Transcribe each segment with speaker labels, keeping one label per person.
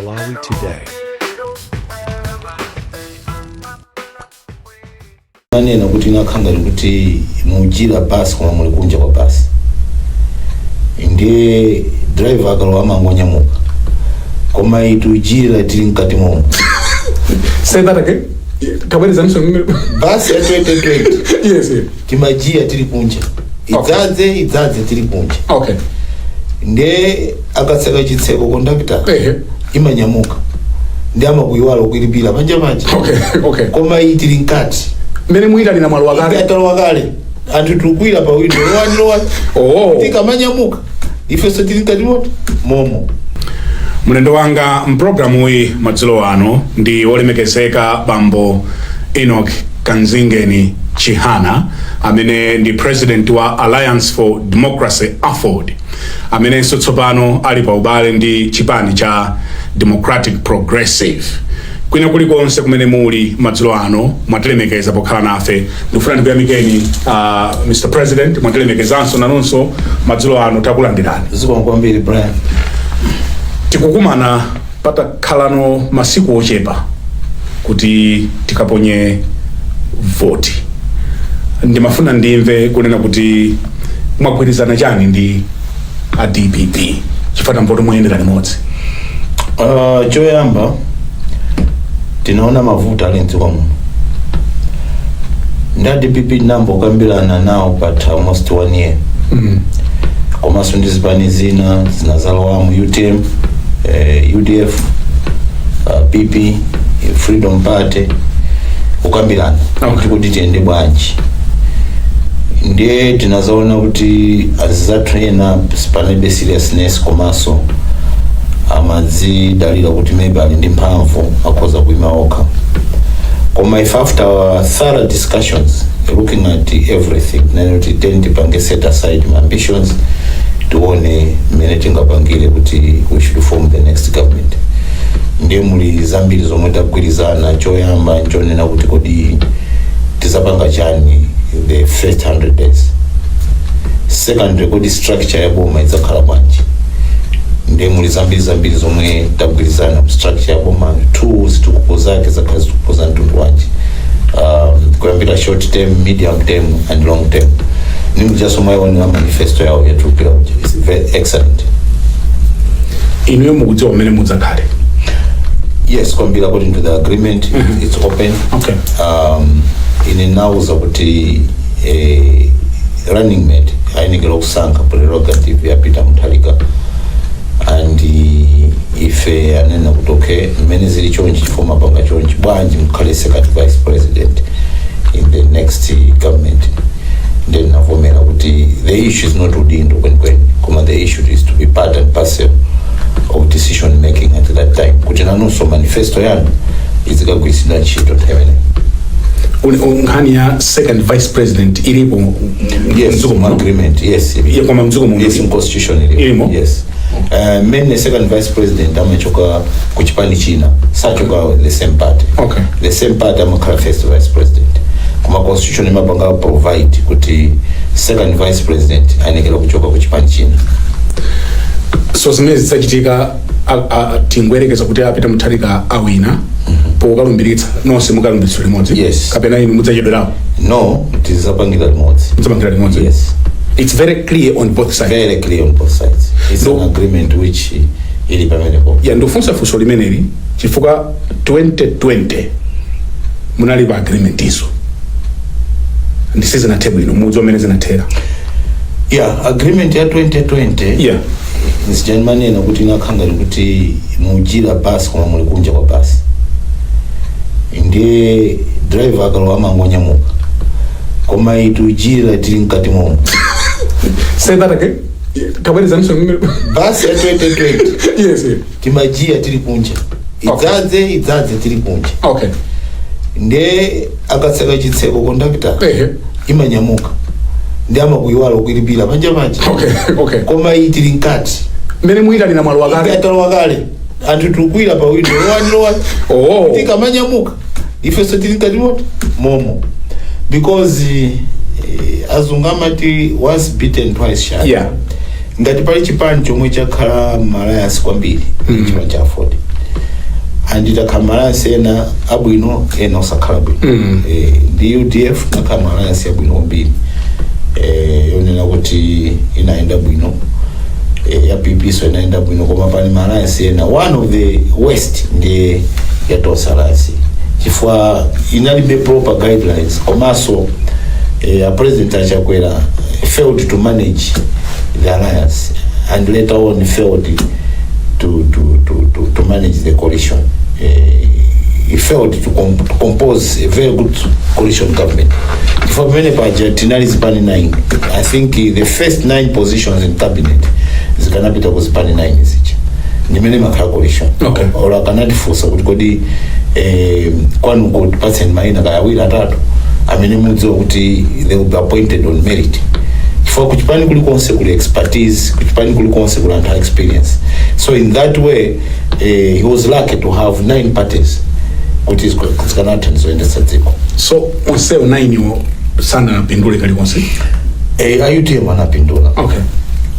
Speaker 1: Malawi
Speaker 2: Today. amanena kuti ndikukhala ngati kuti mujiya basi koma muli kunja kwa basi ndiye driver akalowa amangonyamuka koma iyi tijiya tili mkati momo
Speaker 3: Say that again. Kabwerezaninso. basi ya 2020
Speaker 2: Yes. yes.
Speaker 3: timajiya
Speaker 2: tili kunja idzadze idzadze tili kunja
Speaker 3: okay nde
Speaker 2: akatseka chitseko kondakitala Ehe. imanyamuka ndiye amakuyiwala ukulipira panja panja okay
Speaker 3: okay koma iyi
Speaker 2: tili mkati mmene muyitanira
Speaker 3: mwalowa kale atalowa kale
Speaker 2: anthu tikukwira pa windo lowani lowani oh tikamanyamuka ifenso tili mkati momo
Speaker 3: mlendo wanga mpulogalamu yi madzulo ano ndi wolemekezeka bambo enoch kanzingeni chihana amene ndi president wa alliance for democracy aford amenenso tsopano ali pa ubale ndi chipani cha democratic progressive kwina kulikonse kumene muli madzulo ano mwatilemekeza pokhala nafe ndikufuna ndikuyamikeni uh, mr president mwatilemekezanso nanunso madzulo ano takulandirani zikomo kwambiri brian
Speaker 2: tikukumana
Speaker 3: patakhalano masiku ochepa kuti tikaponye voti ndimafuna ndimve kunena kuti mwagwirizana chani ndi a dpp chifukwa tamva kuti muyendera limodzi Uh,
Speaker 2: choyamba tinaona mavuto ali mdziko muno nda dpp ndayamba kukambirana nawo patha almost one year mm. komanso ndi zipani zina zinazalowamu utm eh, udf uh, pp eh, freedom party kukambirana Okay. kuti tiyende bwanji ndiye tinazaona kuti anzathu ena panalibe seriousness komanso amadzidalira kuti maybe ali ndi mphamvu akhoza kuima okha koma ife after our thorough discussions looking at everything tinaona kuti then ndipange set aside my ambitions tione mmene tingapangire kuti we should form the next government ndiye muli zambiri zomwe tagwirizana choyamba nchonena kuti kodi tizapanga chani the first 100 days secondly kodi structure ya boma idzakhala bwanji nde muli zambiri zambiri zomwe tagwirizana structure ya boma two zitukuko zake zizakhala zitukuko za mtundu wanji um, kuyambira short term medium term and long term ndiye ngati mwaionera manifesto yawo yatuluka ija is very excellent
Speaker 3: inuyo mukudziwa mmene mudzakhale
Speaker 2: yes kwambiri according to the agreement it's open Okay.
Speaker 3: um,
Speaker 2: ine ndinawauza kuti eh, running mate ayenekera kusankha prerogative ya peter mutharika and eh, ife anena kuti okay mmene zili chonchi chifukwa mwapanga chonchi bwanji mukhale second vice president in the next eh, government then ndinavomera kuti the issue is not udindo kwenikweni koma the issue is to be part and parcel of decision making at that time kuti nanunso manifesto yanu izikagwiritsidwa ntchito nthawi imeneyi Uli- u-
Speaker 3: nkhani ya second vice president ilipo m- m- yes mdziko muno.
Speaker 2: agreement yes ili- Yeah, koma mdziko muno yes ili-
Speaker 3: in constitution ili- ilimo?
Speaker 2: yes uh, mmene second vice president amachoka ku chipani china sachoka the same party Okay. the same party
Speaker 3: amakhala
Speaker 2: first vice president koma constitution imapanga provide kuti second vice president ayenekera kuchoka ku chipani china
Speaker 3: so zimene zidzachitika a- a- tingoyerekeza kuti a peter mutharika awina pokalumbiritsa nonse mukalumbiritsa limodzi Yes. kapena inu mudzachedwerapo no
Speaker 2: tidzapangira limodzi mudzapangira limodzi yes
Speaker 3: it's very
Speaker 2: clear
Speaker 3: on both sides very clear on both
Speaker 2: sides it's No. an agreement which ili pamenepo ya ndikufunsa
Speaker 3: funso limeneli chifukwa 2020 munali pa agreementso ndi sizinathe bwino mudziwa mmene zinathera
Speaker 2: yeah agreement ya 2020
Speaker 3: Yeah. nzija ndimanena
Speaker 2: kuti inakhala ngati kuti mujira basi koma muli kunja kwa basi ndiye driver akalowa amangonyamuka koma iyi tujira tili mkati momo Say
Speaker 3: that again. Tabwerezanso. basi ya 2020
Speaker 2: Yes. yes.
Speaker 3: timajiya
Speaker 2: tili kunja idzadze idzadze tili kunja
Speaker 3: okay nde
Speaker 2: akatseka chitseko kondakita Ehe. imanyamuka ndi amakuyiwala kukulipira panja panja okay
Speaker 3: okay koma iyi
Speaker 2: tili mkati mmene
Speaker 3: muyitanira mwalowa kale atalowa kale
Speaker 2: anthu tukwira pa window lowani lowani oh tikamanyamuka ifenso tili mkati momo because eh, azungu amati once bitten twice shy Yeah. ngati
Speaker 3: pali
Speaker 2: chipani chomwe chakhala ma alliance kwambiri mm. chipani cha aford and takhala ma alliance ena abwino ena osakhala bwino Mm. eh, ndi udf takhala ma alliance abwino kwambiri eh, yonena kuti inayenda bwino eh, ya pp so inayenda bwino koma pali ma alliance ena one of the worst ndi ya tonse alliance chifukwa inalibe proper guidelines komanso eh, a president a chakwera failed to manage the alliance and later on failed to, to, to, to, to manage the coalition eh, he failed to, com to compose a very good coalition government chifukwa pamene paja tinali zipani 9 i think eh, the first 9 positions in cabinet zikanapita ku zipani 9 zija ndi mmene imakhalira coalition Okay. olo akanatifunsa kuti kodi eh, kwanuko tipatseni maina kaya awiri atatu amene mudziwa kuti they will be appointed on merit chifukwa kuchipani kulikonse kuli expertise kuchipani kulikonse kuli anthu a experience so in that way eh, he was lucky to have nine parties kuti zika- zikanatha ndi zoyendetsa dziko so onsewo
Speaker 3: nainiwo sanapindule kalikonse eh, a utm
Speaker 2: anapindula okay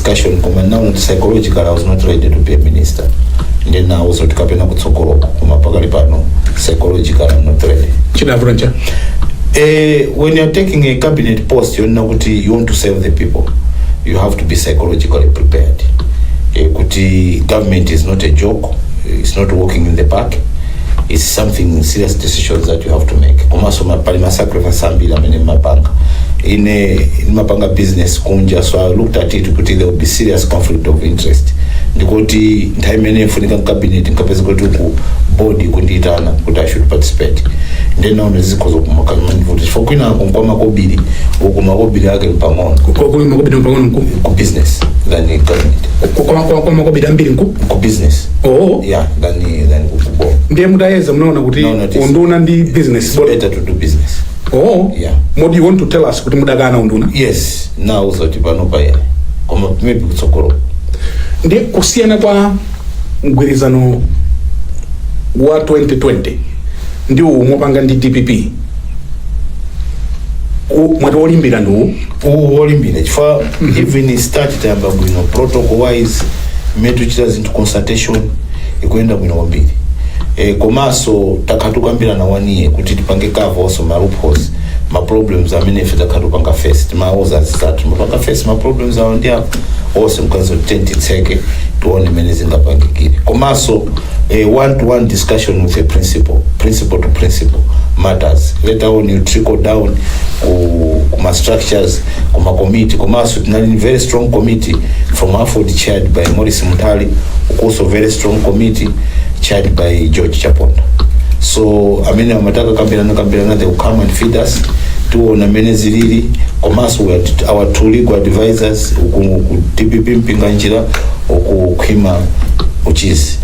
Speaker 2: discussion koma ndinawauza psychologically I was not ready to be a minister ndinawauza zoti kapena kutsogoloka koma pakali pano psychologically I'm not ready chidavuta nchani eh, when you're taking a cabinet post yonena kuti you want to serve the people you have to be psychologically prepared eh, kuti government is not a joke it's not walking in the park it's something serious decisions that you have to make komanso ma- pali masacrifice ambiri amene mumapanga ine ndimapanga business kunja so i looked at it kuti there will be serious conflict of interest ndikuti nthawi imene mfunika mkabineti nkapeza kuti ku board akundiitana kuti i should participate nde naona zikhoza kumandivuta chifukwa kwina kunkwama kobiri uku makobiri ake mpang'ono makobiri mpang'ono
Speaker 3: nku ku business
Speaker 2: than in government kwa makobiri
Speaker 3: ambiri nku ku business
Speaker 2: oo yeah than
Speaker 3: Yeah,
Speaker 2: than ku boma. ndiye
Speaker 3: mutayeza munaona kuti Munaona kuti- unduna ndi business It's better to do
Speaker 2: business. oh
Speaker 3: Yeah. kodi you want to
Speaker 2: tell us
Speaker 3: kuti mudakana unduna Yes, ndinawauza
Speaker 2: kuti panopa ayi. Koma maybe kutsogolo.
Speaker 3: ndiye kusiyana kwa mgwirizano wa 2020 ndi uwu mopanga ndi dpp U- mwati olimbirako ndi uwu uwu olimbirako
Speaker 2: chifukwa even start tayamba bwino protocol wise mmene tichita zinthu consultation ikuyenda bwino kwambiri e, komanso takhala tikukambirana one year kuti tipange cover onse ma loopholes ma problems amene ife takhala tikupanga face timawuza anzathu timapanga face ma problems awo ndi apo onse nkati zonse ti titseke tione mmene zingapangikire komanso a one-to-one discussion with a principal principal to principal matters later on you trickle down ku, ku ma structures ku ma committee komanso tinali ni very strong committee from aford chaired by morris mutali also very strong committee chaired by george chaponda so amene amataka kambirana kambirana they will come and feed us tiona amene zilili komanso we are- our two legal advisors ku ku dpp mpinganjira okukhwima ochita izi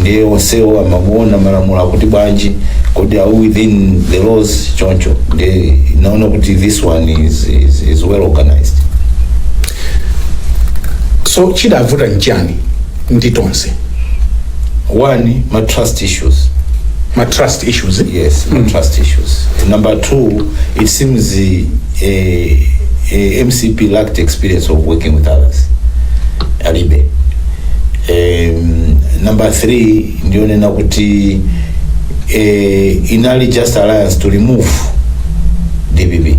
Speaker 2: ndiye onsewo kumaona malamulo akuti bwanji kodi are we within the laws choncho ndiye naona kuti this one is, is, is well organized
Speaker 3: so chidavuta nchani ndi
Speaker 2: tonse one ma trust issues ma trust
Speaker 3: issues yes ma trust
Speaker 2: issues number two it seems eh, eh, eh, mcp lacked experience of working with others alibe um, number three ndi yonena kuti eh, inali just alliance to remove dpp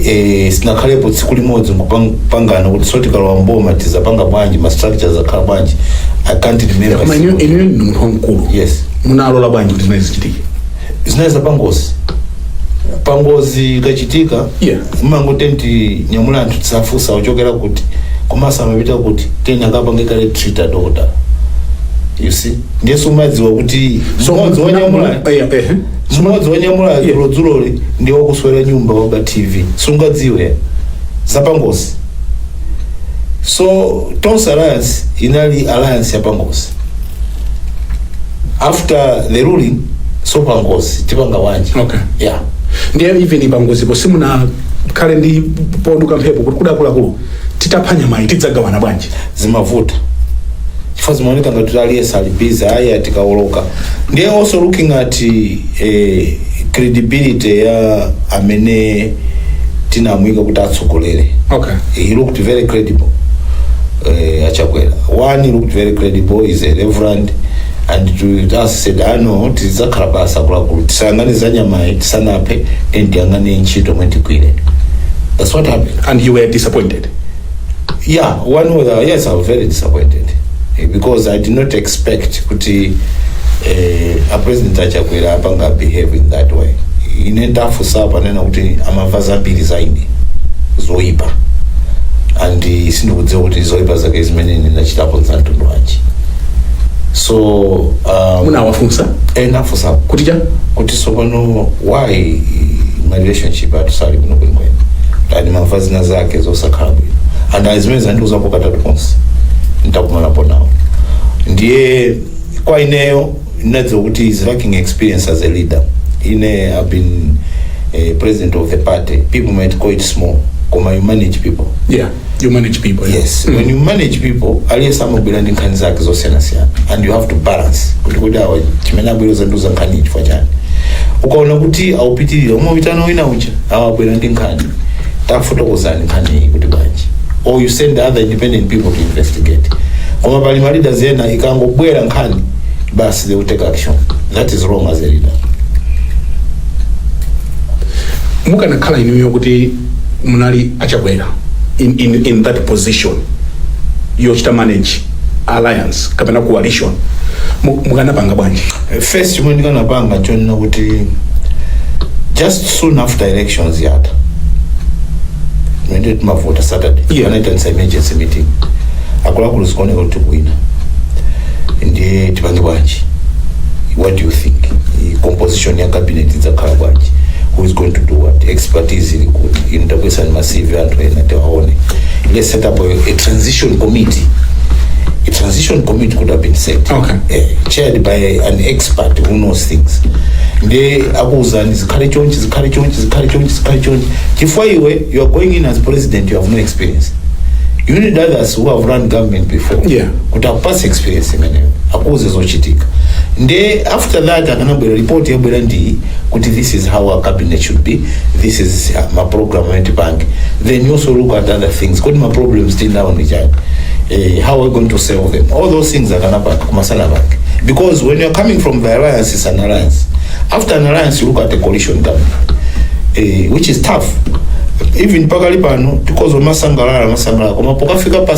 Speaker 2: eh, sinakhalepo tsiku limodzi kupangana kuti so tikalowa mboma tizapanga bwanji ma structures akhala bwanji i can't remember koma inu inu ndi
Speaker 3: munthu wamkulu yes munalola
Speaker 2: bwanji kuti
Speaker 3: zimenezo zichitike zinali
Speaker 2: zapangozi pangozi ikachitika Yeah. mumangoti nyamula anthu osafunsa ochokera kuti komanso amapita kuti kenako akapange kale treat dokotala you see ndiye sumadziwa kuti So, mmodzi wanyamula Eh, eh, eh. mmodzi wanyamula Yeah. dzulodzuloli ndi wakuswera nyumba waba tv sungadziwe zapangozi so tonse alliance inali alliance ya pangozi after the ruling so pangozi tipanga bwanji Okay.
Speaker 3: yeah
Speaker 2: ndiye
Speaker 3: even pangozipo simunakhale ndi ponduka mphepo kuti akuluakulu titapha nyamayi tidzagawana bwanji zimavuta
Speaker 2: chifukwa zimaoneka ngati kuti aliyense ali busy ayi tikawoloka ndiye also looking at eh, credibility ya amene tinamuyika kuti atsogolere okay he looked
Speaker 3: very
Speaker 2: credible uh, a Chakwera one he looked very credible he's a reverend and to us said ah no tizakhala pansi akuluakulu tisayang'ane za nyamayi tisanaphe then tiyang'ane ntchito imene tigwire that's what happened and you were disappointed Yeah, one with uh, yes, I was very disappointed eh, because I did not expect kuti eh, a president a Chakwera apanga behave in that way. Ine ndawafunsapo anena kuti amamva zambiri za ine zoipa and eh, sindikudziwa kuti zoipa zake zimene ine ndachitapo nzamtundu wanji so um,
Speaker 3: munawafunsa eh, ndawafunsa kuti
Speaker 2: cha kuti sopano why ma relationship athu sali bwino bwinobwino ati ndimamva zina zake zosakhala bwino and ayi zimenezo andiuzapo katatu konse nditakumanapo nawo ndiye kwa ineyo ndinadziwa kuti he's lacking experience as a leader ine I've been eh, president of the party people might call it small koma you manage people yeah you
Speaker 3: manage people yeah. yes when you
Speaker 2: manage people aliyense amabwera ndi nkhani zake zosiyanasiyana and you have to balance kuti kuti awa chimene abwera kudzandiuza nkhani chifukwa chani ukaona kuti akupitirira umaitana wina uja awa abwera ndi nkhani tafotokozani nkhani iyi kuti bwanji or you send other independent people to investigate koma pali ma leaders ena ikangobwera nkhani basi they will take action that is wrong as a leader
Speaker 3: mukanakhala inuyo kuti munali a Chakwera in, in, in that position yochita manage alliance kapena coalition Mu- mukanapanga bwanji first chimene
Speaker 2: ndikanapanga chonena kuti just soon after elections ija mmene timavota saturday Yeah. ndikanaitanitsa
Speaker 3: emergency
Speaker 2: meeting akuluakulu zikuoneka kuti tikuwina ndiye tipange bwanji what do you think I- composition composition ya cabinet idzakhala bwanji who is going to do what expertise ili kuti inu tabwesani ma cv anthu ena tiwaone let's set up a, a transition committee a transition committee could have been set Okay. eh, chaired
Speaker 3: by an
Speaker 2: expert who knows things nde akuwuzani zikhale chonchi zikhale chonchi zikhale chonchi zikhale chonchi chifukwa iwe you are going in as president you have no experience you need others who have run government before Yeah. kuti
Speaker 3: akupatse
Speaker 2: experience imeneyo akuuze zochitika nde after that akanabwera report yabwera ndi kuti this is how our cabinet should be this is uh, ma program amene tipange then you also look at other things kodi ma problems tinawo ndi chani eh, how are we going to solve them all those things akanapanga kumasana pake because when you're coming from the alliance it's an alliance after an alliance you look at the coalition government eh, which is tough even pakali pano tikhoza kumasangalala kumasangalala koma pokafika pa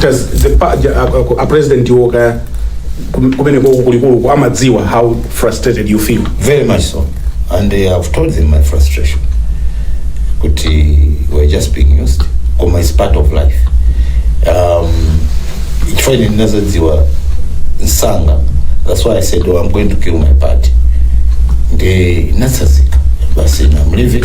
Speaker 2: does
Speaker 3: the pa- ja- a- a- a president iwo kaya kum- kumene koko kulikuluku amadziwa how frustrated you feel Very much so.
Speaker 2: And uh, I've told them my frustration. But uh, we're just being used. Koma is part of life. Um, chifukwa ine ndinazodziwa nsanga that's why i said oh, i'm going to kill my party ndi nasazika basi na mlevi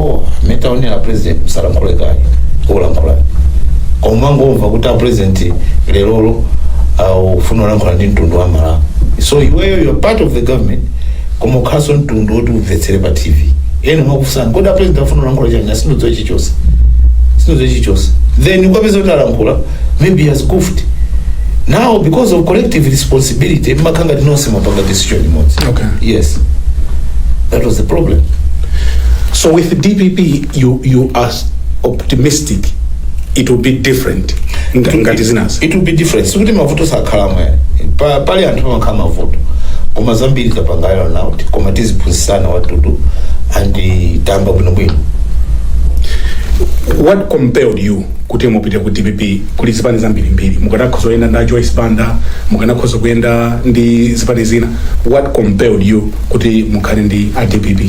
Speaker 2: oh mutaonera a president asalankhule kaye olankhula komangomva kuti a president lerolo akufuna kulankhula ndi mtundu wa malawi so iweyo you are part of the government koma ukhalanso mtundu woti umvetsere pa tv ena makufunsani kodi a president afuna kulankhula chani sindidziwa chichonse sindidziwa chichonse then ukapeze kuti alankhula maybe he has goofed now because of collective responsibility mmakhala ngati nonse mwapanga decision imodzi Okay.
Speaker 3: yes that was the
Speaker 2: problem
Speaker 3: So with the DPP, you
Speaker 2: you
Speaker 3: are s- optimistic it will be different nga- ngati zinazo. it will be different
Speaker 2: sikuti mavuto sakhalamo Pa- pali anthu pamakhala mavuto koma zambiri tapangana kuti koma tiziphunzitsana what to do and tayamba bwinobwino
Speaker 3: What compelled you kuti mupite ku dpp kuli zipani zambirimbiri mukanakhoza kuyenda ndi a joyce banda mukanakhoza kuyenda ndi zipani zina what compelled you kuti mukhale ndi a dpp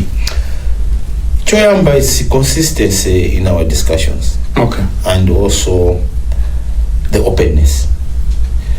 Speaker 3: choyamba
Speaker 2: is consistency in our discussions okay and
Speaker 3: also
Speaker 2: the openness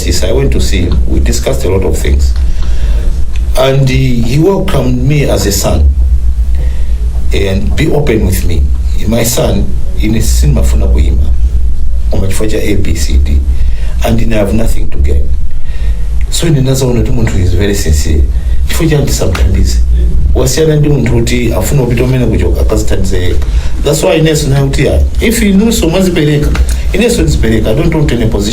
Speaker 2: Sis, I went to see him. We discussed a lot of things. And he, he welcomed me as a son. And be open with me. My son, ine sindimafuna kuima. Koma chifukwa cha A, B, C, D. And then I have nothing to gain. So ndinadzaona kuti munthu is very sincere. Chifukwa chani tisamthandize. Wasiyana ndi munthu kuti afuna kupita umene kuchoka akadzithandize yekha. That's why inenso ndati kuti ah, if inunso mwadzipereka, inenso ndidzipereka. I don't want any position.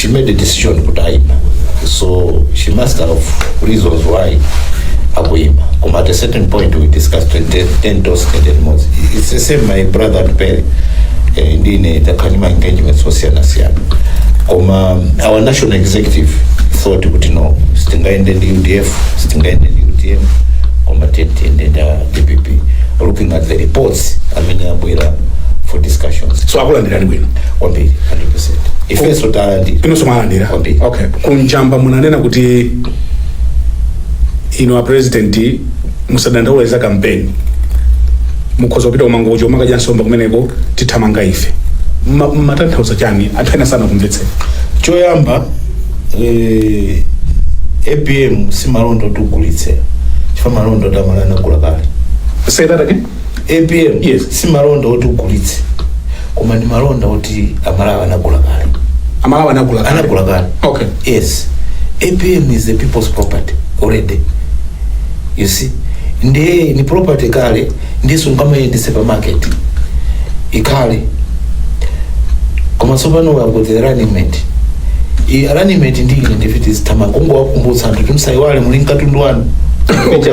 Speaker 2: she made a decision kuti ayima so she must have reasons why akuyima koma at a certain point we discussed ten- ten toes and ten moves it's the same my brother atupele eh, tinakhala ndi ma engagements osiyanasiyana koma our national executive thought kuti no sitingaende ndi udf sitingaende ndi utm koma tiende ndi a dpp looking at the reports amene abwera for discussions so akulandirani bwino
Speaker 3: kwambiri 100
Speaker 2: ifenso talandira inonso mwalandira
Speaker 3: Kwambiri. okay kunjaku munanena kuti inu a president musadandaule za kampeni mukhoza kupita ku Mangochi mukadye nsomba kumeneko tithamanga ife Ma- mumatanthauza chani anthu ena sanakumvetseni
Speaker 2: choyamba eh, apm si malonda oti ugulitse chifukwa malonda oti amalawi anagula kale say that again
Speaker 3: apm
Speaker 2: Yes. si
Speaker 3: malonda
Speaker 2: oti ugulitse koma ndi malonda oti amalawi anagula kale amalawi
Speaker 3: anagula kale. anagula kale okay yes
Speaker 2: apm is the people's property already you see ndiye ni property kale ndiye sungamayendenso pa marketi kale koma tsopano wakuti running mate i running mate ndi ine ndiye ndizithamanga kungowakumbutsa anthu kuti musayiwale muli katundu wanu Okay.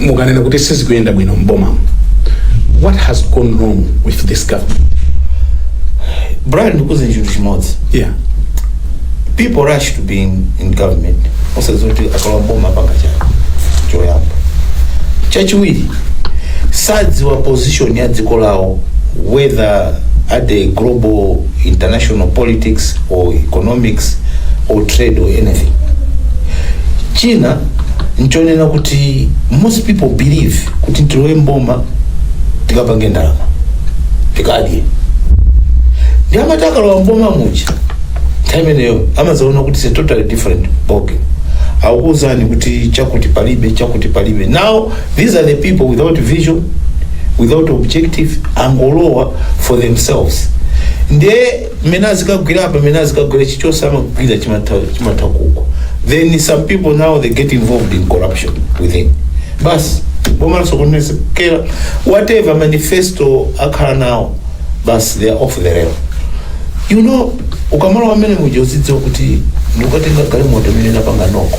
Speaker 3: mukanena kuti sizikuyenda bwino mboma what has gone wrong with this
Speaker 2: government brian ndikuuze chinthu chimodzi yeah people rush to be in, in government osadziwa kuti akalowa mboma apanga chani choyamba chachiwiri sadziwa position ya dziko lawo whether at the global international politics or economics or trade or anything china nchonena kuti most people believe kuti tilowe mboma tikapange ndalama tikadye ndiye amati akalowa mboma muja nthawi imeneyo amazaona kuti it's a totally different ballgame akukuuzani kuti chakuti palibe chakuti palibe now these are the people without vision without objective angolowa for themselves ndiye mmene azikagwira apa mmene azikagwire chichonse amagwira chimatha kuko then some people now they get involved in corruption within basi boma lasokonezekera whatever manifesto akhala nawo basi they are off the rail you know ukamalowa mmenemuja uzidziwa kuti ndikukatenda galimoto imene inapanga noko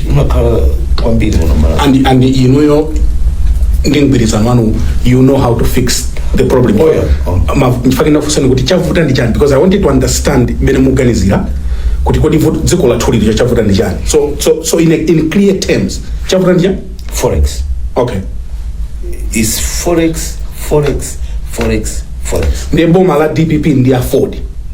Speaker 2: imakhala kwambiri muno malawi and and
Speaker 3: inuyo ndi mgwirizano wanu you know how to fix the problem Oh, yeah. Oh. Ma-
Speaker 2: nchifukwa chake ndakufunsani kuti
Speaker 3: chavuta ndi chani because i wanted to understand mmene mukuganizira kuti kodi vuto- dziko lathu lilicho chavuta ndi chani so so so in, a, in clear terms chavuta ndi chani
Speaker 2: forex okay is forex forex forex
Speaker 3: forex ndiye boma la dpp ndi aford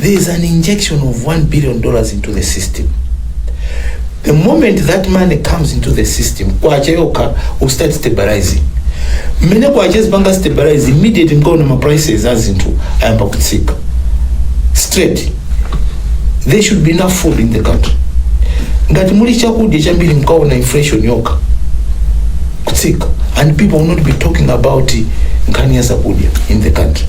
Speaker 2: there is an injection of 1 billion dollars into the system the moment that money comes into the system kwacha yokha will start stabilizing mmene kwacha izipanga stabilize immediately mkaona ma prices a zinthu ayamba kutsika straight there should be enough food in the country ngati muli chakudya chambiri mkaona inflation yokha kutsika and people will not be talking about nkhani ya zakudya in the country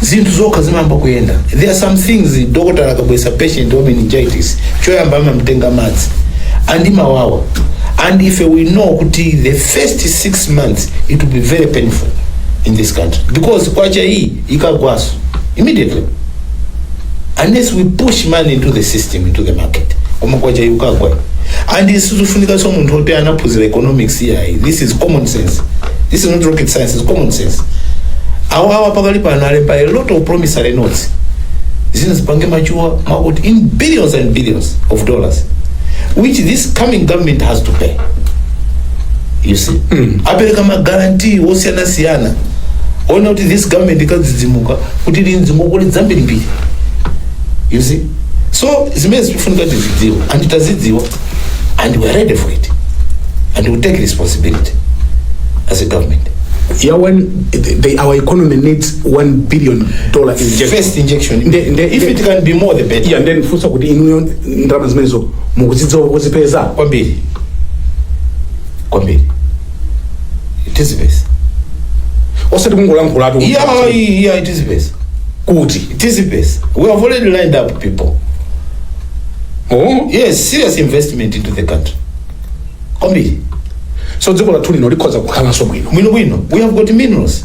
Speaker 2: zinthu zokha zimayamba kuyenda there are some things doctor akabweretsa patient wa meningitis choyamba amamtenga madzi and imawawa and if we know kuti the first six months it will be very painful in this country because kwacha iyi ikagwaso immediately unless we push money into the system into the market koma kwacha ikagwa and isizofunikanso munthu oti anaphunzira economics yayi this is common sense this is not rocket science is common sense awo awa pakali pano alemba a lot of promissory notes zina zipange machuwa makuti in billions and billions of dollars which this coming government has to pay you see apereka ma guarantee wosiyanasiyana aona kuti this government ikadzidzimuka kuti linzingokuli dzambirimbiri you see so zimene zikufunika tikuzidziwa and tazidziwa and we are ready for it and we take responsibility as a government Yeah,
Speaker 3: when the, the, our economy needs one billion dollar injection. first injection Nde-
Speaker 2: nde- if nde- it can be more the better Yeah, ndiye ndifunse kuti
Speaker 3: inuyo ndalama zimenezo mukudziwa kozipeza kwambiri
Speaker 2: kwambiri
Speaker 3: tizipeza osati kungolankhulatu kuti- yeah yeah tizipeza
Speaker 2: kuti
Speaker 3: tizipeza
Speaker 2: we have already lined up people
Speaker 3: oh. yes
Speaker 2: serious investment into the country kwambiri so
Speaker 3: dziko lathu lino likhoza kukhalanso bwino bwino bwino we have got minerals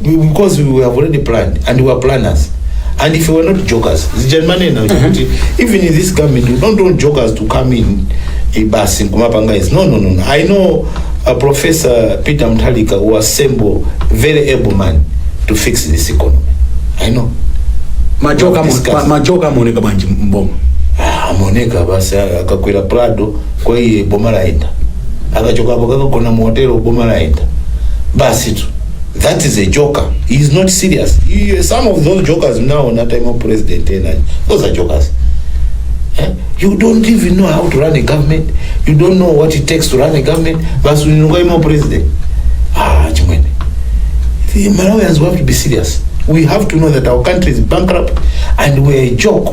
Speaker 3: because we
Speaker 2: have already planned and we are planners and if we are not jokers zijanmanena kuti even in this government we don't want jokers to come in eh, basi nkumapanga izi no no no no. i know uh, professor peter mtalika who assemble very able man to fix this economy i know majoka Discuss. majoka
Speaker 3: amaoneka bwanji mboma Ah, amaoneka
Speaker 2: basi akakwera prado kwa iye boma layenda akachokapo kakagona mu hotelo boma layenda basi tu that is a joker he is not serious He- some of those jokers mnaona time of president enayo those are jokers Eh? you don't even know how to run a government you don't know what it takes to run a government basi uninukwaima president ah chimwene the malawians we have to be serious we have to know that our country is bankrupt and we're a joke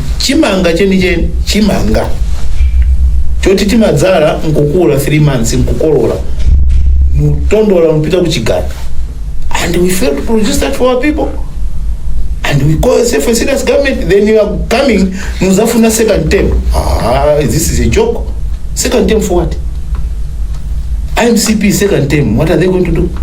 Speaker 2: chimanga chenicheni chimanga choti timadzala nkukula 3 months nkukolola mutondola mpita kuchigala and we fail to produce that for our people and we call ourselves a serious government then you are coming muzafuna second term ah, this is a joke second term for what mcp second term what are they going to do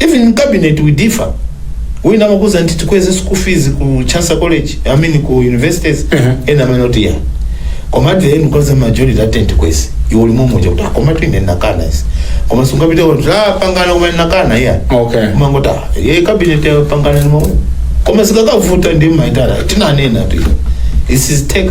Speaker 2: Even in cabinet we differ. Wina amakuuzani kuti tikweze school fees ku Chancellor College, I mean ku universities, ena amanena kuti ayi. Koma at the end kwadza majority ati tikweze. Iwe uli momuja kuti komatu ine ndakana izi. Koma sungapite kuti tapangana koma ndakana ayi. Okay. Umangoti, eya cabinet yapangana ndi momwemo. Koma zikakavuta ndimaitana. Tinanenatu. This is take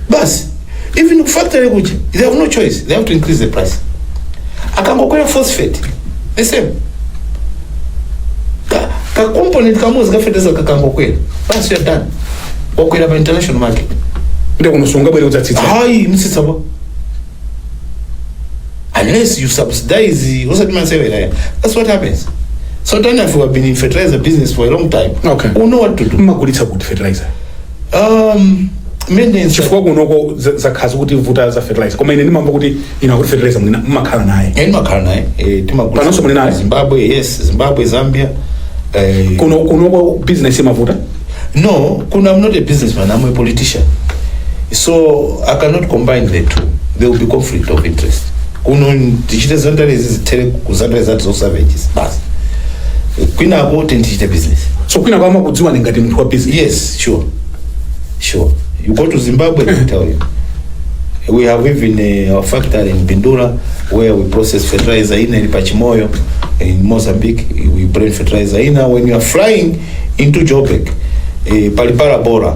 Speaker 2: basi even factory kuja they have no choice they have to increase the price akangokwera phosphate the same ka, ka component kamodzi ka feteleza kakangokwera basi you're done wakwera pa international market ndiye kunonso
Speaker 3: ungabwere udzatsitsa ayi sutsitsa apa
Speaker 2: unless you subsidize osati masewera ya that's what happens so then if you have been in fertilizer business for a long time Okay. you know what to do mumagulitsa kuti fertilizer
Speaker 3: um
Speaker 2: mene chifukwa kunoko
Speaker 3: za- zakhala zikutivuta za fertilizer koma ine ndimamva kuti inu akuti fertilizer mwina mumakhala naye eya timakhala naye eh,
Speaker 2: timagulitsa Panonso muli naye? zimbabwe
Speaker 3: yes zimbabwe
Speaker 2: zambia eh,
Speaker 3: kuno kunoko business imavuta
Speaker 2: no kuno i'm not a businessman i'm a politician so i cannot combine the two there will be conflict of interest kuno tichite zandarezi zithere kuzandare zati zosavages basi kwinako tindichite business so kwina kwama kudziwa
Speaker 3: ni ngati munthu wa business yes sure
Speaker 2: sure you go to zimbabwe they tell you we have even uh, our factory in bindura where we process fertilizer ina ili pachimoyo in mozambique we bring fertilizer ina when you are flying into joburg eh, palipala bora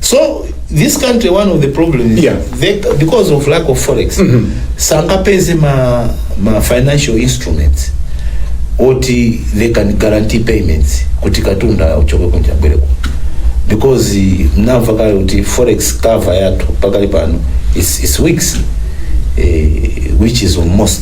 Speaker 2: so this country one of the problem is Yeah. they, because of lack of forex sangapeze ma, ma financial instruments oti they can guarantee payments kuti katundu uchoke kunja bwereko because eh, mnamva kale kuti forex cover yathu pakali pano is, is weeks eh, which is almost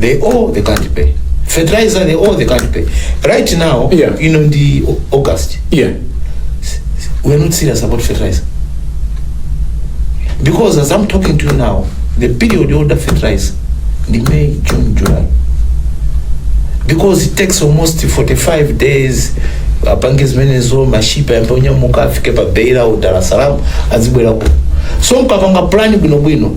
Speaker 2: they all they can't pay fertilizer they all they can't pay right now Yeah. you know ndi
Speaker 3: Au-
Speaker 2: august yeah we're not serious about fertilizer because as i'm talking to you now the period you order fertilizer the may june july because it takes almost 45 days apange zimenezo mashipa yambe onyamuka afike pa beira udalasalamu azibwera ku so mkapanga plan bwinobwino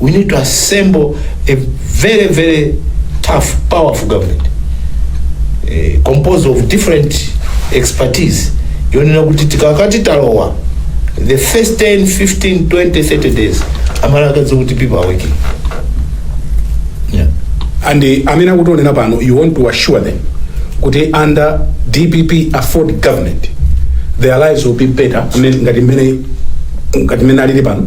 Speaker 2: we need to assemble a very very tough powerful government eh, composed of different expertise yonena kuti tikakati talowa the first 10 15 20 30 days amala akadziwa kuti people are working yeah. and eh, amene akutionera pano
Speaker 3: you want to assure them kuti under dpp afford government their lives will be better amene- ngati mmene ngati mmene alili pano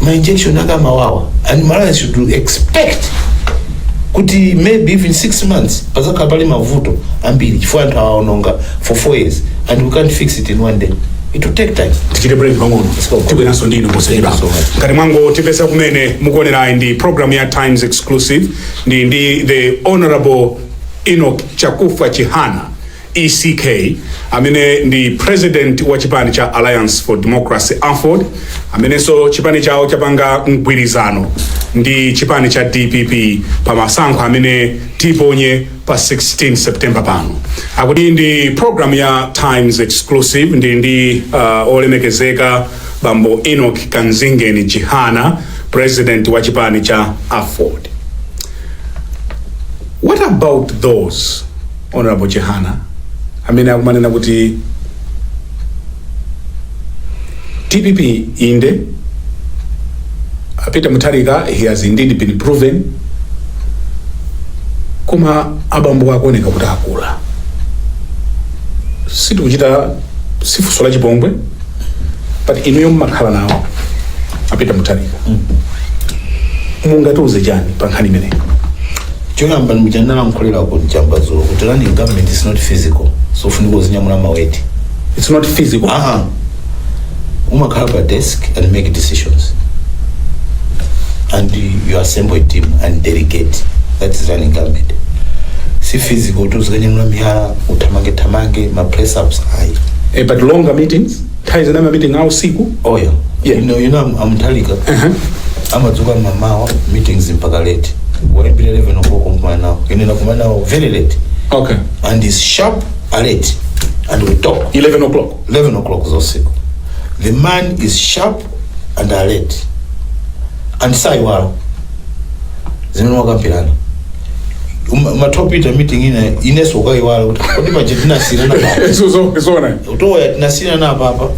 Speaker 3: ma injection ake amawawa and malawi should expect kuti maybe even six months padzakhala pali mavuto ambiri chifukwa anthu awa aononga for four years and we can't fix it in one day it will take time tichite break pang'ono tibweranso ndi inu posachedwa Thank you so much. ngati mwangotipeza kumene mukuonerayi ndi program ya times exclusive ndi ndi the honorable enoch chakufa chihana ECK, amene ndi president wa chipani cha Alliance for Democracy Aford, amenenso chipani chawo chapanga mgwirizano ndi chipani cha DPP pa masankho amene tiponye pa 16 September pano. Akuti ndi program ya Times Exclusive ndi uh, olemekezeka bambo Enoch Kanzingeni Chihana, president wa chipani cha Aford. What about those Honorable Chihana amene akumanena kuti dpp inde a Peter Mutharika he has indeed been proven koma abambo akuoneka kuti akula sitikuchita si funso la chipongwe but inuyo mmakhala nawo a Peter Mutharika mungatiuze chani pa nkhani imeneyi choyamba
Speaker 2: ndi cha ndalankhula ku msonkhano dzulo kuti running government is not physical so ufunika uzinyamula ma weight it's not physical aha
Speaker 3: umakhala
Speaker 2: pa desk and make decisions and you assemble a team and delegate that is running government si physical kuti uzikanyamula miyala uthamange thamange ma press ups ayi Eh, but longer meetings
Speaker 3: nthawi zina ma meeting a usiku oyo Yeah. you know
Speaker 2: you know I'm, I'm Talika Aha. amadzuka mamawa meetings mpaka late waimbira 11 o'clock kumana nawo ine nakumana nawo very late okay and
Speaker 3: is sharp
Speaker 2: alert and we talk 11 o'clock 11
Speaker 3: o'clock zosiku
Speaker 2: the man is sharp and alert and saiwala zimene wakambirana Uma- umatopita ku meeting ina iwenso ukaiwala kuti kodi paja tinasiyana papa So- so- sona
Speaker 3: utoya tinasiyana
Speaker 2: papa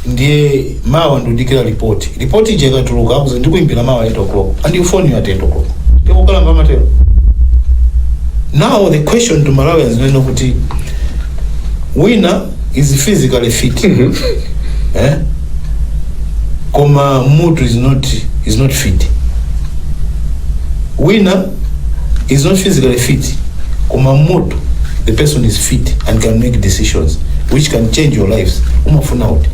Speaker 2: ndiye mawa ndikudikira ripoti ripoti ija ikatuluka akuuza ndikuimbira mawa 8 o'clock and he'll phone you at 8 o'clock Ndi okalamba amatero now the question to malawians ndi kuti wina is physically fit eh? koma mutu is not, is not fit wina is not physically fit koma mutu the person is fit and can make decisions which can change your lives umafuna uti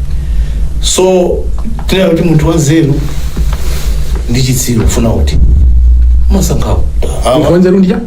Speaker 2: so tinene kuti munthu wanzeru ndi chitsiru ufuna uti umasankha yani Munthu wanzeru
Speaker 3: ndi chani?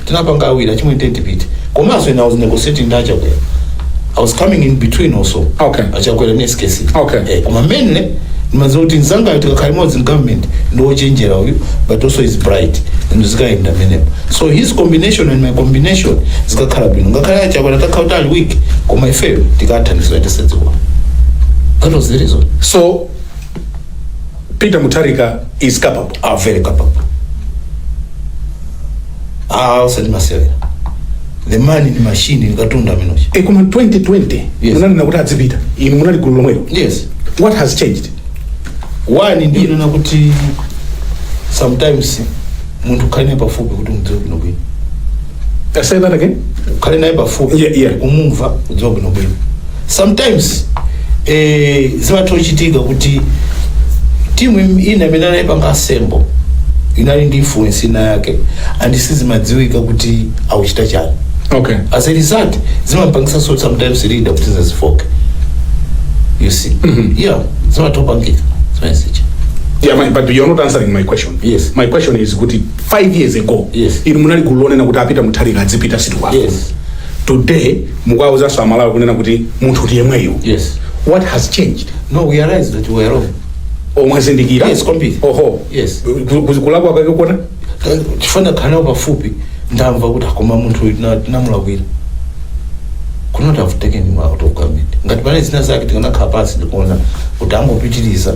Speaker 2: tinapanga awiri achimwe tiyeni tipite komanso ine i was negotiating ndi achakwera i was coming in between also Okay. achakwera ne
Speaker 3: skc
Speaker 2: Okay. eh, koma mainly ndimadziwa kuti mzangayu tikakhala limodzi in government ndi wochenjera uyu but also is bright and zikayenda m'menemo so his combination and my combination zikakhala bwino ngakhale achakwera atakhala kuti ali weak koma ifeyo tikathandiza tisadziwa that was the reason so
Speaker 3: Peter Mutharika is capable. Very
Speaker 2: capable. Ah, usati masewera. The man ndi machine ndi katundu Minoshi. E koma
Speaker 3: 2020 Yes. munanena
Speaker 2: kuti
Speaker 3: adzipita. Inu munali gulu lomwelo. Yes. What
Speaker 2: has
Speaker 3: changed?
Speaker 2: One ndi yonena kuti sometimes munthu khala naye pafupi kuti mudziwe bwino bwino.
Speaker 3: Uh, say that again. ukhale naye
Speaker 2: pafupi Yeah, yeah. kumumva kudziwa bwinobwino sometimes eh, zimatha kuchitika kuti timu im- ina imene anayipanga assemble inali ndi influence ina yake and sizimadziwika kuti akuchita chani Okay. as
Speaker 3: a
Speaker 2: result zimapangisanso sometimes leader kuti azifooke you see Mhm. yeah zimatha kupangika zimayesecha
Speaker 3: Yeah, my, but you're not answering my question. Yes. My question is
Speaker 2: kuti
Speaker 3: 5 years ago Yes. inu munali gulu
Speaker 2: lonena
Speaker 3: kuti a Peter Mutharika adzipita sitikwapo Yes. today mukuwauzanso amalawi kunena kuti munthu ndi yemweyo Yes. what
Speaker 2: has changed
Speaker 3: No, we realize that
Speaker 2: we are wrong. oh
Speaker 3: mwazindikira Yes, kwambiri. oho Yes. Ku-
Speaker 2: ku- kulakwa
Speaker 3: kwake kuona Eh,
Speaker 2: Chifukwa kukhala pafupi ndamva kuti a koma munthu uyu tina- tinamulakwira. Could not have taken him out of government. Ngati pane zina zake tikanakhala pansi ndikuona kuti angopitiriza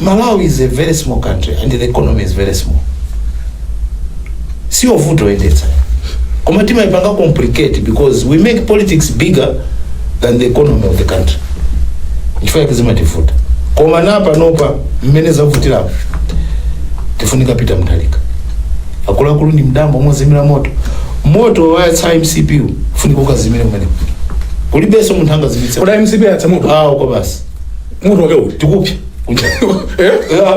Speaker 3: malawi is
Speaker 2: a very small country and the economy is very small siyovuta kuyendetsa koma timaipanga complicate because we make politics bigger than the economy of the country nchifukwa yake zimativuta koma napanopa mmene zavutirapo tifunika peter mutharika akuluakulu ndi m'dambo mozimira moto moto wayatsa mcp ufunika ukazimire kumeneko kulibenso munthu angazimitse kuda mcp yayatsa
Speaker 3: moto awo kwa basi
Speaker 2: moto wake
Speaker 3: uti
Speaker 2: tikupsa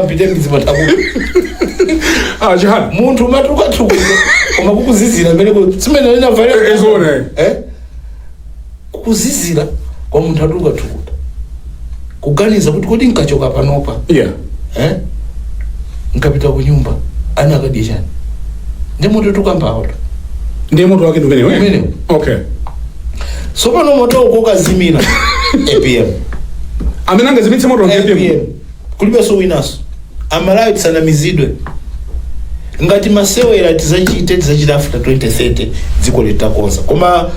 Speaker 2: ampite mizimataku ah
Speaker 3: chihana munthu amatuluka
Speaker 2: thukuta koma kukuzizira mmene ku- simene lina Eh, eh, zoona, eh. eh kukuzizira
Speaker 3: koma
Speaker 2: munthu atuluka thukuta kuganiza kuti kodi nkachoka panopa yeah eh nkapita ku nyumba ana akadya chani ndi moto tukambawo ndi moto
Speaker 3: wake ndi umenewo eh? Umenewo. okay
Speaker 2: tsopano moto ukukazimira
Speaker 3: apm amene angazimitse moto apm apm kulibenso
Speaker 2: winaso amalawi tisanamizidwe ngati masewera tizachite tizachita after 2030 dziko litakonza koma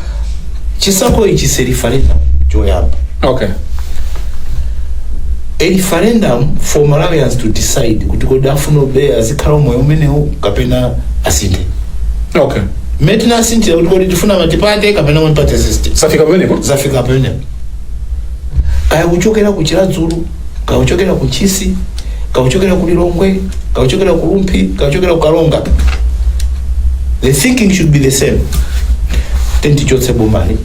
Speaker 2: chisankho ichi is a referendum
Speaker 3: choyamba
Speaker 2: okay a referendum for malawians to decide kuti kodi afunabe azikhala umoyo umenewu kapena asinthe okay
Speaker 3: mmene
Speaker 2: tinasinthira kuti kodi tifuna multiparty kapena multiparty system zafika pamenepo zafika pamenepo kaya kuchokera ku chiradzulu kaya kuchokera ku ntchisi kaya kuchokera ku lilongwe kaya kuchokera ku rumphi kaya kuchokera ku karonga the thinking should be the same tiyeni tichotse bomali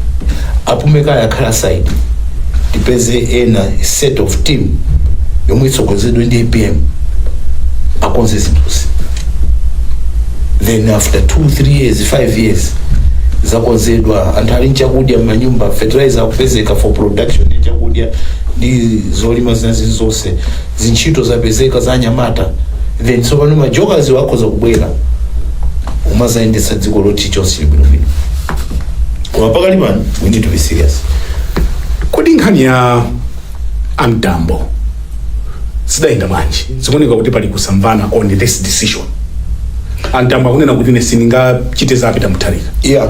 Speaker 2: apume kaye akhale aside tipeze ena set of team yomwe itsogozedwe ndi apm akonze zinthuzi then after 2 3 years 5 years zakonzedwa anthu ali nchakudya m'manyumba fertilizer akupezeka for production ya chakudya ndi zolima zina zili zonse zintchito zapezeka za anyamata then tsopano majokers wa akhoza kubwera umazayendetsa dziko loti chonse chili bwinobwino koma pakali pano we need to be serious kodi
Speaker 3: nkhani ya a Mtambo sidayenda bwanji zikuoneka kuti pali kusamvana on this decision a Mtambo akunena kuti ine sindingachite za Peter Mutharika yeah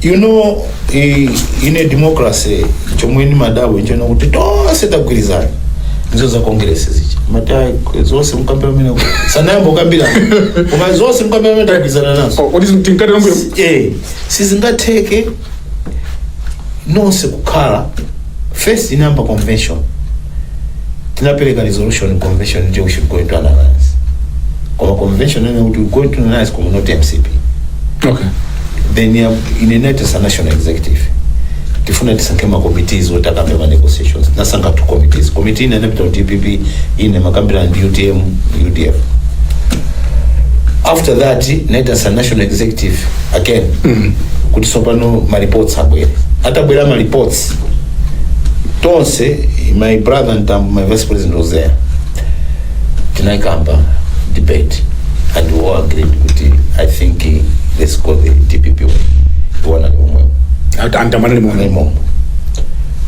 Speaker 3: you
Speaker 2: know i- in a democracy chomwe nimadabwa nchonena kuti tonse tagwirizana ndi za congress zi chimati ayi, zonse mukamba amene sanayambe kukamba koma zonse mukamba mmene tagwirizana nazo kodi tinkati Eh, sizingatheke nonse kukhala first inayamba convention tinapereka resolution convention nde we should go into an alliance koma convention inanena kuti we go into an alliance koma not mcp
Speaker 3: okay then ya-
Speaker 2: in a NEC a national executive tifuna tisankhe ma committees oti akambe ma negotiations tinasankha two committees committee ina inapita ku dpp ina imakambirana ndi utm udf after that NEC as a national executive again kuti tsopano ma reports abwere atabwera ma reports tonse my brother Mtambo my vice president was there tinaikamba debate and we all agreed kuti i think eh, let's go the dpp way iwo anali momwemo a Mtambo
Speaker 3: anali momwemo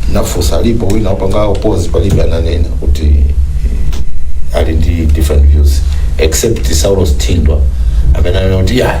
Speaker 2: ndinafunsa alipo wina akupanga oppose palibe ananena kuti eh, ali ndi different views except saulos thindwa amene anena kuti ya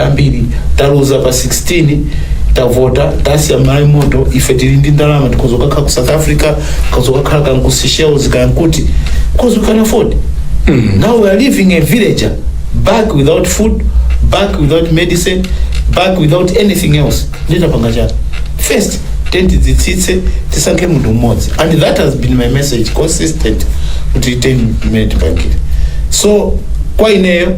Speaker 2: ambiri taluza pa 16 tavota tasiya malawi moto ife tili ndi ndalama tikhoza kukakhala ku south africa tikhoza kukakhala kanku seychelles kankuti because we can afford now we are leaving a villager back without food back without medicine back without anything else nde tipange chani first tiyeni tidzitsitse tisankhe munthu mmodzi and that has been my message consistent kuti tiyeni mu unity basi so kwa ineyo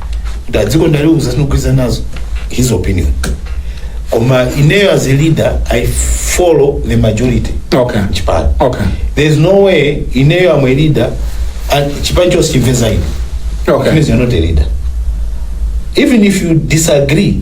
Speaker 2: kuti dziko ndaliuza sindikugwirizana nazo his opinion koma ineyo as a leader i follow the majority okay chipani okay there is
Speaker 3: no
Speaker 2: way ineyo am a leader and chipani chonse chimve za ine okay it means
Speaker 3: you're not a leader
Speaker 2: even if you disagree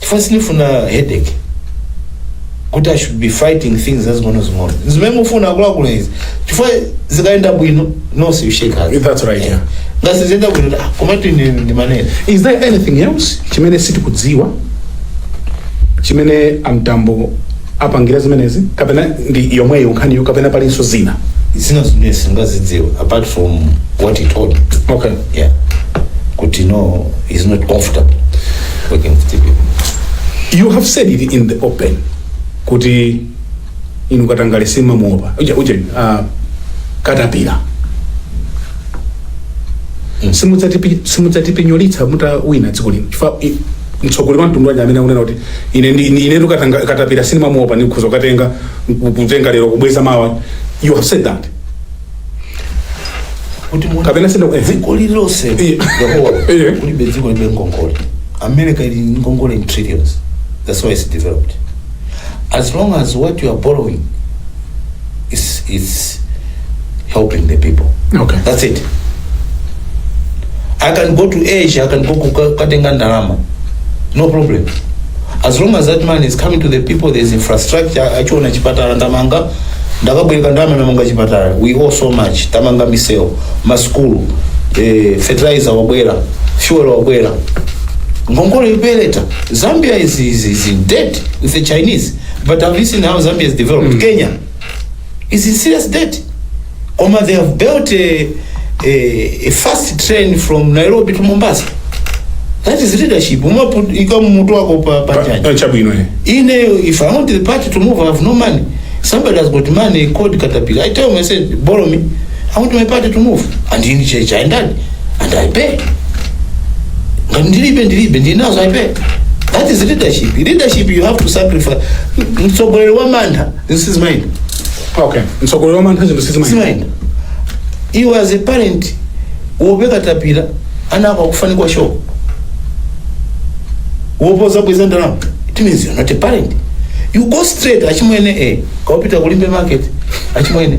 Speaker 2: chifukwa sindifuna headache kuti i should be fighting things zazing'onozing'ono zimene mufuna akuluakulu izi chifukwa zikayenda bwino nonse you shake hands That's right, yeah.
Speaker 3: ngati siziyenda bwino
Speaker 2: ah, komatu ndi ndimanena is there anything
Speaker 3: else chimene sitikudziwa chimene amtambo apangira zimenezi kapena ndi yomweyo nkhaniyo kapena palinso zina zina zimene
Speaker 2: singazidziwa apart from what he told me okay yeah kuti no he's not comfortable working with you
Speaker 3: people. you have said it in the open kuti inu katangale simamuopa uje uje uh, katapira simudzatipi- simudzatipinyolitsa mutawina dziko lino chifukwa i- mtsogoleri wa mtundu wanji amene akunena kuti ine ndi- ine- inetu katanga- katapira sindimamuopa ndikhoza kukatenga kutenga lero kubweza mawa you have said that kuti muone kapena senda eh, dziko
Speaker 2: lililonse Eh. Yeah, Eh. kulibe dziko lilibe ngongole america ili ndi ngongole in trillions that's why it's developed as long as what you are borrowing is, is helping the people okay that's it i can go to asia i can go kuka- kukatenga ndalama no problem as long as that money is coming to the people there is infrastructure achiona chipatala ndamanga ndakabwereka ndalama ndamanga chipatala we owe so much tamanga misewu maskulu eh, fertilizer wabwera fuel wabwera ngongole yopeleta zambia is, is, is in debt with the chinese but have you seen how zambia is developed kenya is in serious debt koma they have built a, a, a fast train from nairobi to mombasa that is leadership umapuika mutu wako pa, pa jaji Eh, chabwino eh. ine if i want the party to move i have no money somebody has got money called katapila i tell him i said borrow me i want my party to move and in church i ndani and i pay ngati ndilibe ndilibe ndinazo i pay that is leadership leadership you have to sacrifice mtsogoleri wa mantha zinthu sizimayenda
Speaker 3: okay mtsogoleri wamantha zinthu sizimayenda
Speaker 2: sizimayenda iwe as a parent woopa katapira ana ako akufa ndi kwasho woopa kudzabweza ndalama it means you're not a parent you go straight achimwene e kaupita ku limbe market achimwene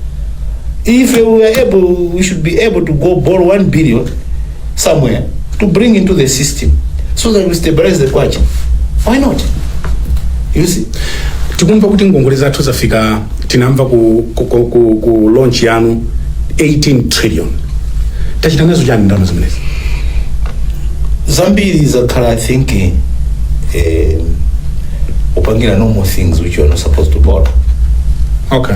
Speaker 2: if we were able, we should be able to go borrow one billion somewhere to bring into the system so that we stabilize the kwacha. Why not? You see? tikumva kuti
Speaker 3: ngongole zathu zafika tinamva ku, ku, ku, ku, ku launch yanu 18 trillion tachita nazo chani ndalama zimenezi Zambiri
Speaker 2: zakhala, I think, eh, eh, upangira normal things which you are not supposed to borrow. okay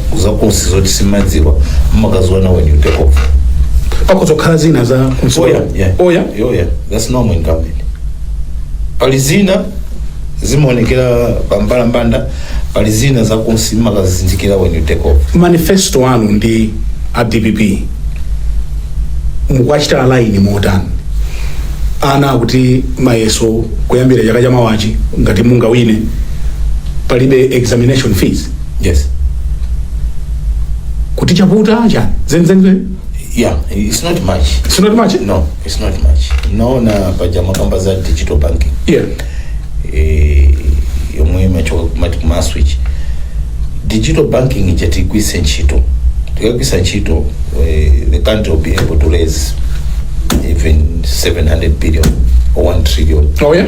Speaker 2: zakunsi zoti simadziwa mumakaziona when you take off pakhoza kukhala zina za kunsi- oya yeah. oya Oh, yeah. that's normal in government pali zina zimaonekera pambalambanda pali zina zakunsi mumakazizindikira when you take off manifesto anu
Speaker 3: ndi a dpp mukuwachita align motani ana akuti mayeso kuyambira chaka chamawachi ngati mungawine palibe examination fees yes
Speaker 2: kuti
Speaker 3: chavuta chani zenizeni yeah
Speaker 2: it's not much sinoti machi no
Speaker 3: it's not much
Speaker 2: naona paja makamba za digital banking yeah
Speaker 3: eh,
Speaker 2: yomwe imachoka kumati kumaswitch digital banking ija tigwise ntchito tikagwisa ntchito eh, the country will be able to raise even 700 billion or 1 trillion oh yeah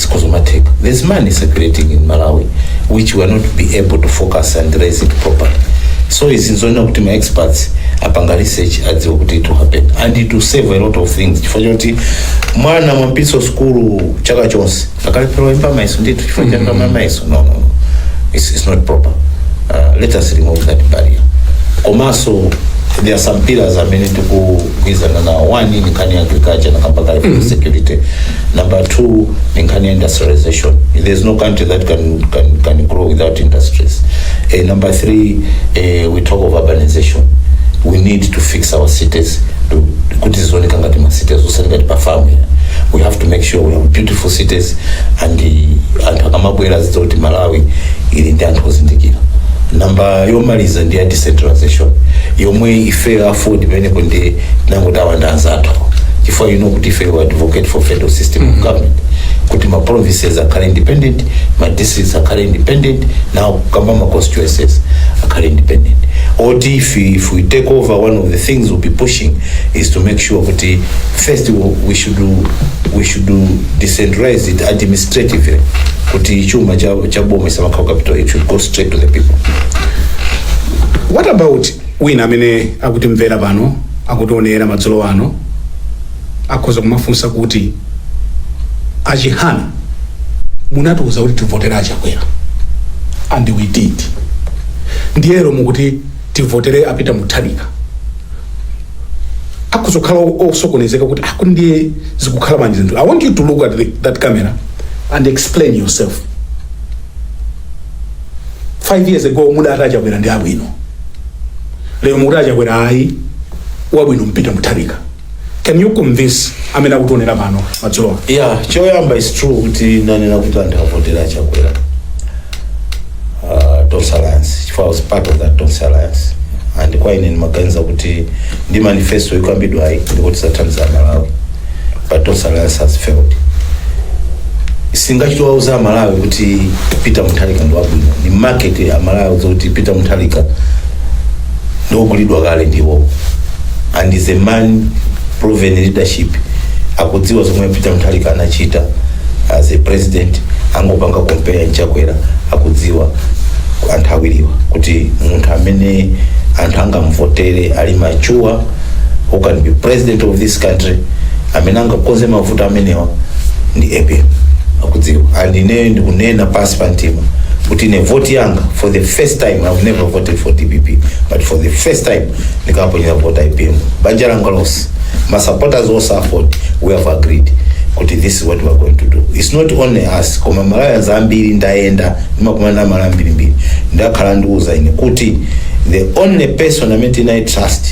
Speaker 2: zikhoza kumatheka there's money circulating in malawi which we are not be able to focus and raise it properly so izi nzoona kuti ma experts apanga research adziwe kuti it will happen and it will save a lot of things chifukwa choti mwana mwampititsa sukulu chaka chonse akalephera kulemba mayeso ndithu chifukwa chakama mayeso no, no, no. It's, it's not proper uh, let us remove that barrier komanso there are some pillars amene tikugwirizana nawo one ndi nkhani ya agriculture ndakamba kale mm -hmm. security Number two, ndi nkhani ya industrialization. There's no country that can, can, can grow without industries. Eh, number three, eh, we talk of urbanization. We need to fix our cities to- kuti zioneka ngati ma cities osati ngati pa family. We have to make sure we have beautiful cities and eh, anthu akamabwera azidziwa kuti Malawi ili ndi anthu ozindikira namba yomaliza ndi ya decentralization yomwe ife AFORD imenepo ndi nangu tawanda anzathu chifukwa you know kuti ife we advocate for federal system of government kuti ma provinces akhale independent ma districts akhale independent nawo kamba ma constituencies akhale independent oti if, we- if we take over one of the things we'll be pushing is to make sure kuti first we, we should do- we should do decentralize it administratively kuti chuma cha, cha boma isamakhawo capital it should go straight to the people
Speaker 3: What about wina amene akutimvera pano akutionera madzulo ano akhoza kumafunsa kuti a Chihana munatiuza kuti tivotere a Chakwera and we did ndiye lero mukuti tivotere a Peter Mutharika akhoza kukhala osokonezeka kuti aku ndiye zikukhala bwanji zinthu i want you to look at the, that camera and explain yourself 5 years ago mudati a Chakwera ndi abwino lero mukuti a Chakwera ayi wabwino n'Peter Mutharika can you convince amene akutionera pano madzulo ano yeah choyamba
Speaker 2: is true kuti ndinanena kuti anthu avotere a Chakwera uh, tonse alliance chifukwa I was part of that tonse alliance and kwa ine ndimaganiza kuti ndi manifesto ikukambidwayi ndikuti tithandiza aMalawi but Tonse Alliance has failed sindingachite kuwauza amalawi kuti peter mutharika ndi wabwino ndi market amalawi zoti peter mutharika ndi ogulidwa kale ndiwo and he's a man proven leadership akudziwa zomwe peter mutharika anachita as a president angopanga compare ndi Chakwera akudziwa anthu awiriwa kuti munthu amene anthu angamvotere ali mature who can be president of this country amene angakonze mavuto amenewa ndi apm akudziwa and ineyo ndikunena pansi pa mtima kuti ine vote yanga for the first time i've never voted for dpp but for the first time ndikaponyera vote apm banja langa lonse ma supporters onse a AFORD we have agreed kuti this is what we are going to do it's not only us koma malawians ambiri ndayenda ndimakumana ndi aMalawi ambirimbiri akhala akundiuza ine kuti the only person amene tili naye trust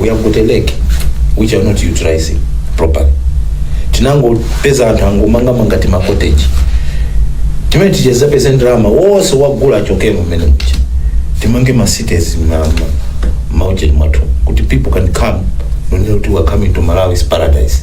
Speaker 2: we have got
Speaker 3: a
Speaker 2: lake which are not utilizing properly tinangopeza anthu angomangamanga timakoteji timene tichezepeze ndalama wonse agula achokemo mmene mucha timange ma cities ma- ma- maujeni mwathu kuti people can come n'kunena kuti we are coming to malawi's paradise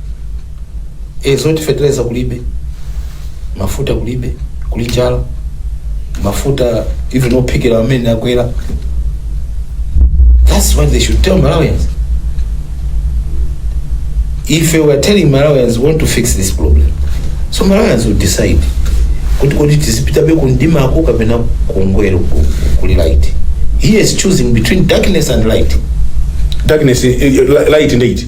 Speaker 2: e zoti feteleza kulibe mafuta kulibe kuli njala mafuta even ophikira amene akwera that's what they should tell malawians if we are telling malawians we want to fix this problem so malawians will decide kuti kodi tizipitabe kundimako kapena kungopita ku- kuli light he is choosing between darkness and light darkness
Speaker 3: eh, eh, light ndi iti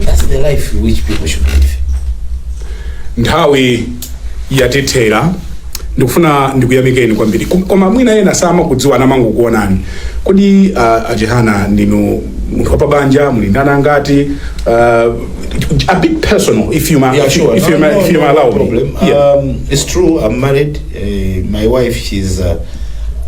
Speaker 2: That's the life which people should live.
Speaker 3: nthawi yatithera ndikufuna ndikuyamikeni kwambiri Kom- koma mwina ena samakudziwa amangokuonani kodi uh, a Chihana ndinu munthu wapabanja muli ndi ana angati uh, a bit personal if you may, Yeah, if you, sure. if you, No, may, no, if you no, may no allow me problem. yeah.
Speaker 2: Um, it's true, I'm married. Eh, my wife she's uh,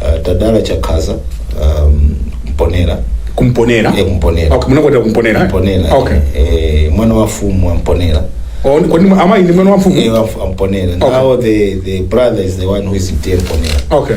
Speaker 2: uh, Tadala Chikhadza um, Mponela ku
Speaker 3: Mponela Eh, Mponera. okay, munakwatira
Speaker 2: ku Mponela eh?
Speaker 3: Mponela
Speaker 2: okay eh,
Speaker 3: mwana wa mfumu
Speaker 2: wa Mponela Oh, ni-
Speaker 3: kodi amayi ndi mwana wa mfumu Eh, wa Mponela Okay. now
Speaker 2: the, the brother is the one who is in Mponela okay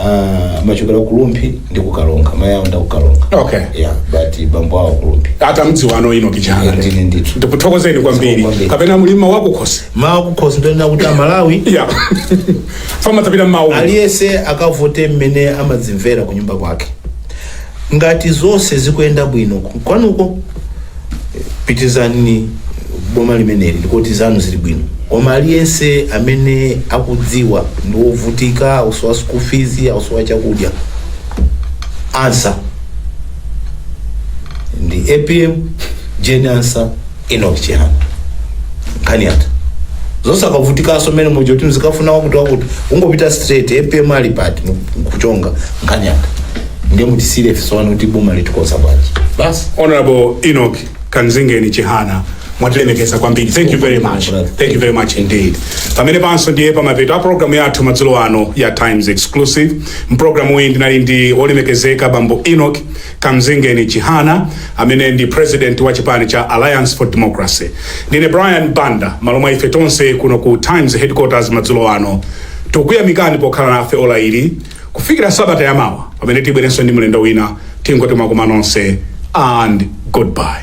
Speaker 3: Ah,
Speaker 2: amachokera ku Rumphi ndi ku Karonga mayi awo ndi a ku Karonga Okay. yeah
Speaker 3: but bambo
Speaker 2: awo ku Rumphi atamdziwa ano ino
Speaker 3: Chihana ndine ndithu ndikuthokozeni
Speaker 2: kwambiri
Speaker 3: Kwambiri. kapena muli mawu akukhosi mawu kukhosi ndi
Speaker 2: onena kuti a Malawi
Speaker 3: yeah fama tapita mmawu aliyense akavote
Speaker 2: mmene amazimvera ku nyumba kwake ngati zonse zikuyenda bwino ku- kwanuko pitirizani boma limeneli ndiye kuti zanu zili bwino koma aliyense amene akudziwa ndi wovutika akusowa school fees akusowa chakudya answer ndi APM Jane Ansah Enoch Chihana nkhani yatha osakavutikanso mmene muja kuti muzikafuna wakuti wakuti ungopita straight APM ali pati nkuchonga nkhani yatha ndiye mutisiyire ife tione kuti boma tilikonza bwanji basi Honorable
Speaker 3: Enoch Kamzingeni Chihana mwatilemekeza kwambiri thank you very much thank you very much indeed pamenepanso ndiye pamapeto a programu yathu madzulo ano ya Times Exclusive mu programu iyi ndinali ndi olemekezeka bambo Enoch Kamzingeni Chihana amene ndi president wa chipani cha Alliance for Democracy. Ndine Brian Banda m'malo mwa ife tonse kuno ku Times headquarters madzulo ano. Tikukuyamikani pokhala nafe ola ili kufikira sabata yamawa pamene tibwerenso ndi mlendo wina tingoti mwakoma nonse and goodbye.